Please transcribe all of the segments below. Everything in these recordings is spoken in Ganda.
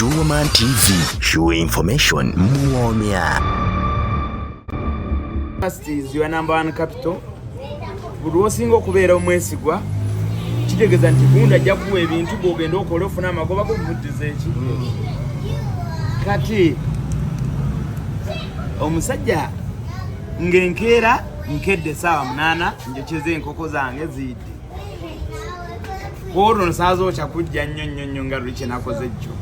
Shuwoman TV, sure information muwomya. Trust is your number one capital. Buli osinga okubeera omwesigwa kitegeeza nti gunda ajja kuwa ebintu gogenda okola ofuna amagoba gokuvuddiza eki kati omusajja ng'enkeera nkedde saawa munaana njokyeza enkoko zange ziidde olwo nsaaza okya kujja nnyo nnyo nnyo nga luli kyenakoze jjo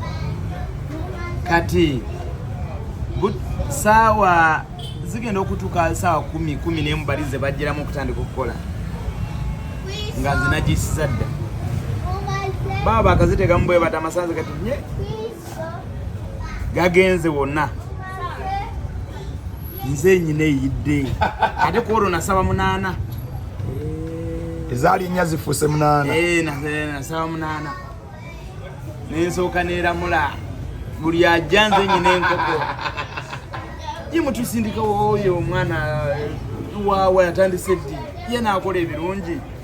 kati saawa zigenda okutuuka saawa kumi kumi nemu bali ze bajjiramu okutandika okukola nga nze nagiisiza dda baba bakazitegamu bwebata amasanze kati nye gagenze wonna nze nyina eyidde ate kwolwo nasaba munaana ezaali nnya zifuuse munaana eh, eh, nasaba munaana nensooka neramula buli ajja nze nyina enkoko ye mutusindikawo oyo omwana eh, waawa yatandise ddi ye naakola ebirungi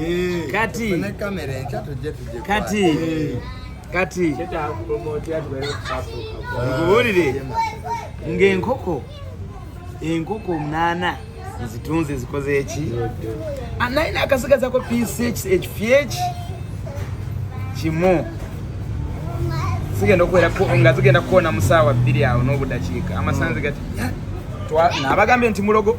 Eh, kati kati eh. kati nkubuulire ng'enkoko enkoko omunaana nzitunze zikoze eki ah, naye nakasigazako piisi ekifyeki kimu zigenda okuwera nga zigenda kukoona mu saawa bbiri awo n'obudakiika amasanzi gati nabagambye nti mulogo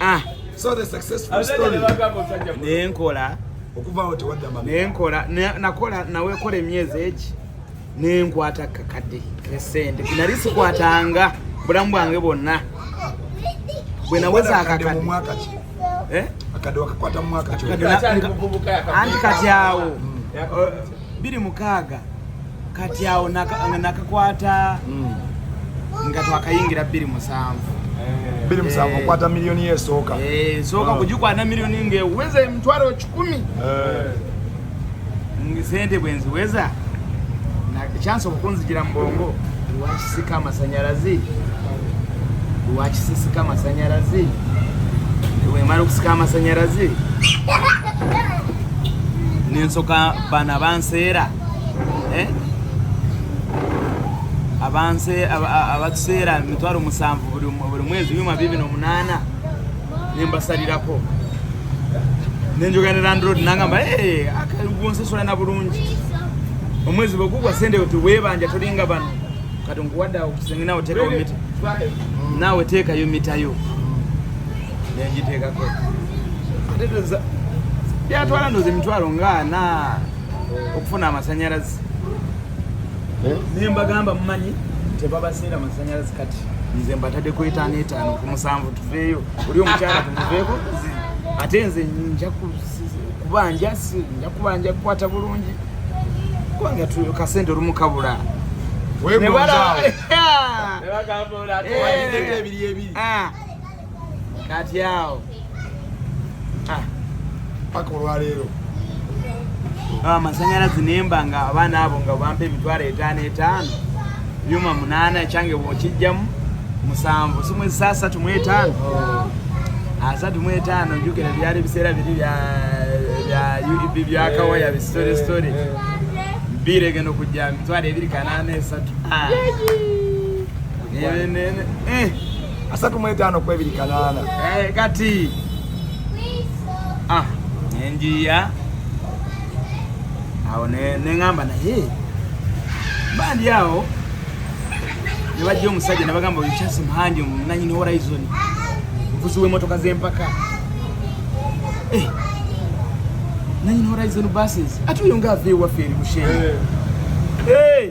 ah. so the successful story nenkola okuvaawo tewadda mama nenkola nakola nawekola emyezi egi nenkwata kakadde kesente nali sikwatanga bulamu bwange bwonna bwe naweza akakadde eh? anti kati awo hmm. biri mukaaga kati awo nakakwata hmm. nga twakayingira bbiri musanvu eh. bbiri musanvu eh. okwata miliyoni yesooka eh, esooka ah. kugikwata miliyoni ngeweza emitwalo kikumi sente bwenziweza kyansi okukunzijira mubongo lwakisika amasanyalaze lwakisisika amasanyalaze wemala okusika amasanyalaze nensoka bana banseera eh? abanse abatuseera emitwalo musanvu buli mwezi byuma bibi nomunaana nembasalirako nenjogera landlord nangamba eh, akagonsasula na bulungi omwezi bwegugwa sente tiwebanja tolinga bano kati nkuwadde akusenginawo tekawo mita naawe teekayo mitayo nenjiteekako byatwala ndoza emitwalo nga na okufuna amasanyalaze eh? naye mbagamba mumanyi tebabaseera masanyalaze kati nze mbatadde ku etaano etaano ku musanvu tuveeyo oli omukyala tumuveeko ate nze nja kubanja nja kubanja kukwata bulungi kubanga kasente olumu kabula nebala kati awo ah. paka olwaleero amasanyalazi nemba nga abaana abo nga bampa emitwalo etaano etaano byuma munaana ekyange bwokijjamu musanvu simwezisa asatu mu etaano oh. asatu mu etaano njukira byali biseera biri bya byakawaya bisitore sitore birege no kujja mitwalo ebiri kanaana esatu ah. asatu mu etaano ku ebiri kanaana eh, kati ah, nenjiya awo neŋamba naye bandi awo nebajja omusajja nebagamba oyo chas muhanji nanyini horizon omuvuzi w'emotoka z'empaka eh, nanyini horizon buses ate oyo nga ava ewaffe eri mushenga eh.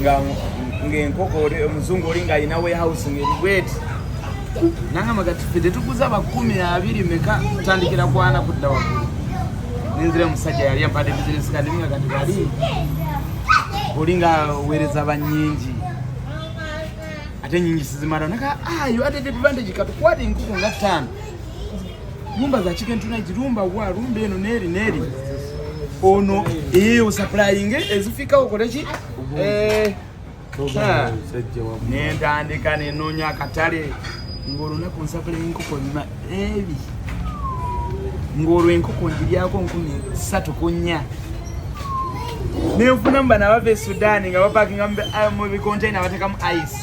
nga ng'enkoko omuzungu oli ng'alina warehouse ng'eribweti nangamba kati fe tetuguza bakumi abiri meka tandikira kwana kudda waggulu nenzira omusajja yali ampadde bizinesi kadi nga kati bali oli nga weereza banyingi ate nyingi sizimala naka ayo ah, ate advantage katukwata enkoko nga ttaano Lumba za chicken tonight, lumba wa, lumba eno neri neri. Ono eyo supplying ezifika okoleki? Eh. Nentandika nenoonya akatale ng'olunaku nsakula enkoko nima ebi ng'olwo enkoko ngiryako nkumi ssatu ku nnya nenfunamu bana bava e sudaani nga bapakinga mu bikontaina batekamu ice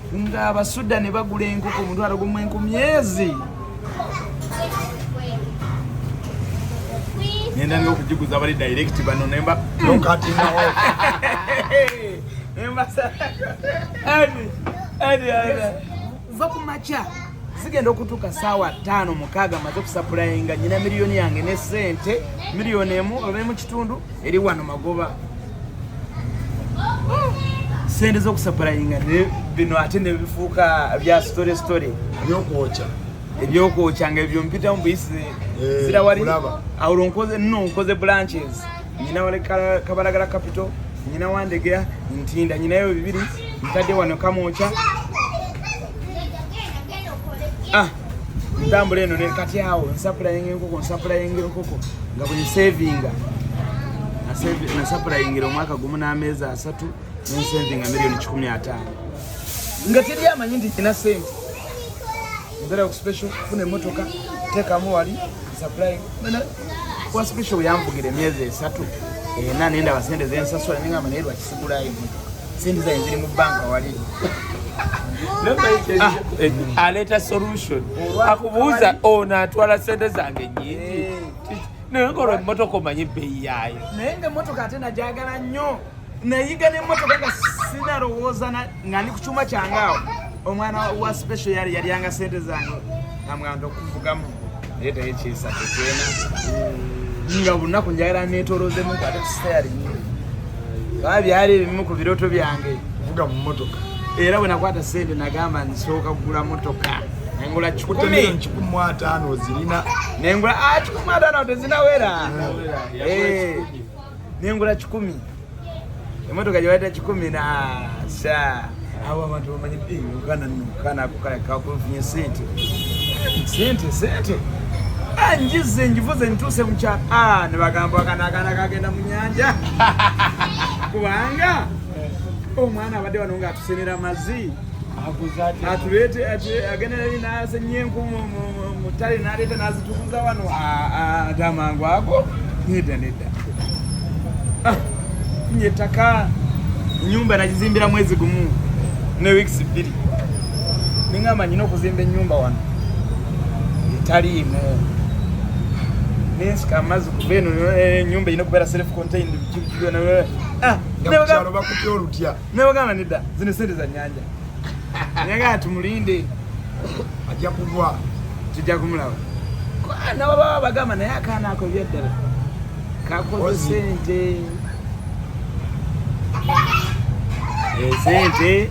nga abasuda ne bagula enkoko omutwalo gumu enkumi ezi nenda nga okugiguza bali direct bano nemba va ku makya zigenda okutuuka saawa ttaano mukaaga amaze okusapulayinga nyina miliyoni yange ne sente miliyoni emu oba emu kitundu eri wano magoba sente zokusapulainga bino ate nebifuuka bya story story ebyokwokya ebyokwokya nga ebyo mpitamu buyisi eh, zira wali awulo nkoze no nkoze branches nyina wali kabalagala capital nyina wandegera ntinda nyinayo bibiri ntadde wano kamwokya ah. ntambula eno kati awo nsapulainga enkoko nsapulainga enkoko nga buli savinga nasapulaingira omwaka gumu n'ameezi asatu nensavinga miliyoni kikumi ataano nga teri amanyi nti kina sente nzera okuspecial funa emotoka tekamu wali kuba special bweyanvugira emyezi esatu ena eh, nendaba sente zensasula nengamba naye lwakisigula ivu sente zaye ziri mu banka wali ah, eh, aleeta solution akubuuza ono atwala sente zange nyingi eh. naye ngolwa emotoka omanyi ebbeyi yaayo naye nga emotoka ate najagala nnyo nayiga nemotoka nga sinalowooza nga ndi ku kyuma kyange awo omwana wa special yali yalyanga sente zange namwanda okuvugamu naye taye kyesa tekyena nga bunaku njagala netolozemu ate sitayali ba byali ebimu ku birooto byange kuvuga mu motoka era bwe nakwata sente nagamba nsooka kugula motoka nengula kikumwataano zirina nengula ah, kikumwataano tezinawera eh. nengula kikumi emotoka gyebayita kikumi nasa abo abantu bamanyi eh, uganda nokana kakufunye sente sente sente ah, njize njivuze nituuse mukyalo ah, nebagamba akanakana kagenda mu nyanja kubanga omwana abadde wano nga atusenera mazi atuleete agenda nali nasenye enku mu ttale naleeta nazitukuza wano ate amangu ago nedda nedda ah, nye ettaka enyumba nagizimbira mwezi gumu ne weeks bbiri nengamba nyina okuzimba enyumba wano etaliimu nensika amazzi kuva eno enyumba eh, yina okubeera self contained byona eh, ah, bakutya olutya Ne bagamba nedda zino sente za nyanja. Nyaga tumulinde. Ajja kugwa. Tujja kumulaba. Kwa na baba bagamba naye akaana ako byaddala. Kakoze sente. Eh, sente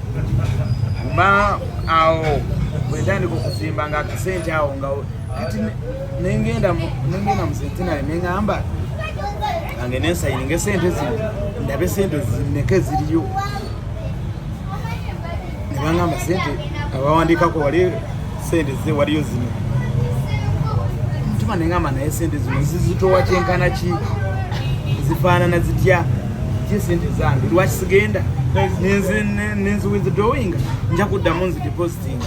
ma awo bwetandika okusimba nga akasente awo nga kati nengenda nengenda mu centenary nengamba ange nensayininga esente zino ndabe sente zineke ziriyo nebangamba sente abawandikako wali sente ze waliyo zino mutima nengamba naye sente zino zizitowa kyenkana ki zifaanana zitya ki sente zange lwaki sigenda nenziwithdrawinga nja kuddamu nzidepositinga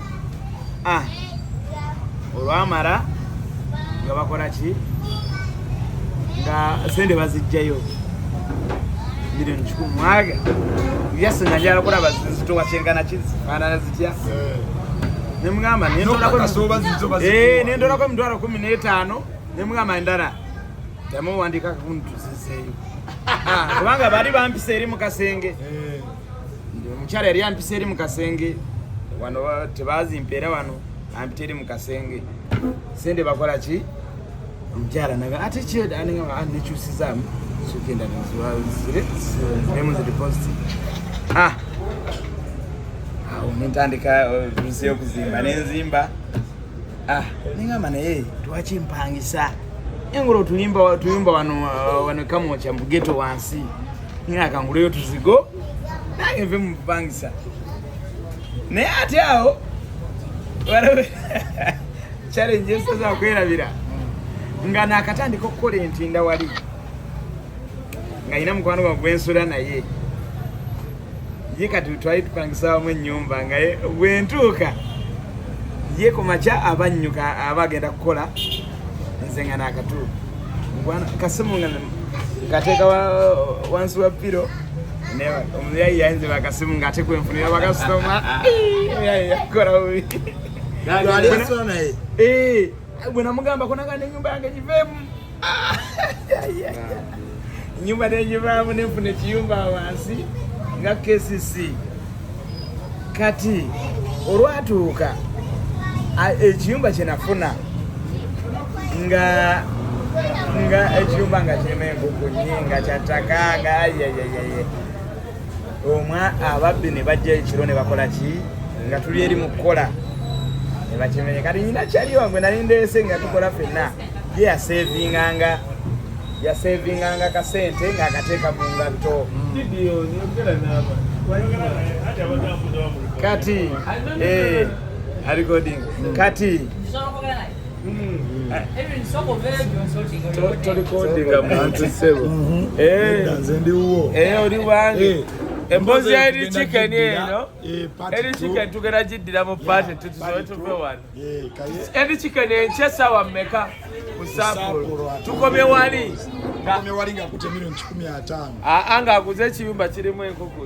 ah. olwamala nga bakola ki nga sente bazijjayo milioni kikumi mwaga yase najala kulaba zitowa kyengana kizifaanana zitya eh. nemugamba nendolako emitwalo kumi n'etaano nemugamba endala yamuwandikako kuntuzizeeyo ah, kubanga bali bampisa eri mu kasenge eh. omukyala yali ampisa eri mu kasenge wano tebazimpa era wano ampita eri mu kasenge sente bakola ki omukyala naga ate kyenekyusizaamu sugenda nemu zidipositi ah! awo nentandika vise uh, okuzimba nenzimba ah! nengamba naye twakimpangisa engolo tulimba wano uh, wano kamokya mugeto wansi Nina akanguleyo tuzigo nange nve mu bupangisa naye ate awo challenge esaza kwerabira nga nakatandika okukola entinda wali nga yina mukwano gwa gwensula naye ye kati twali tupangisa wamu ennyumba nga bwentuuka ye ku makya abannyuka aba agenda kukola nze nga nakatu kasimu nga nkateeka wansi wa piro omuyayi yayinze bakasimu nga ate kwenfunira bakasitoma omuyayi yakola bubi bwe namugambako naga nenyumba yange giveemu nyumba nenjivaamu nenfuna ekiyumba wansi nga kcc kati olwatuuka ekiyumba kyenafuna nga nga ekiyumba nga kirima enkuku nyi nga kyattaka nga ayayayeye omwa ababbi ne bajja ekiro ne bakola ki nga tuli eri mu kukola ne bakimenye kati nyina kyali wange nali ndeese nga tukola fenna ye yaseevinganga yasevinganga kasente ng'akateeka mu ngatto kati eh, recording hmm. kati tolikodinga muntu sebo nze ndiwo oli wange eh. emboozi ya eri chicken eno eri eh, chicken tugera giddira mu paati tutusobe tuve wano Edi chicken enche sawa mmeka kusapulu tukome wali tukome wali nga kutemiro nchikumi atano aa nga akuze ekiyumba kirimu enkoko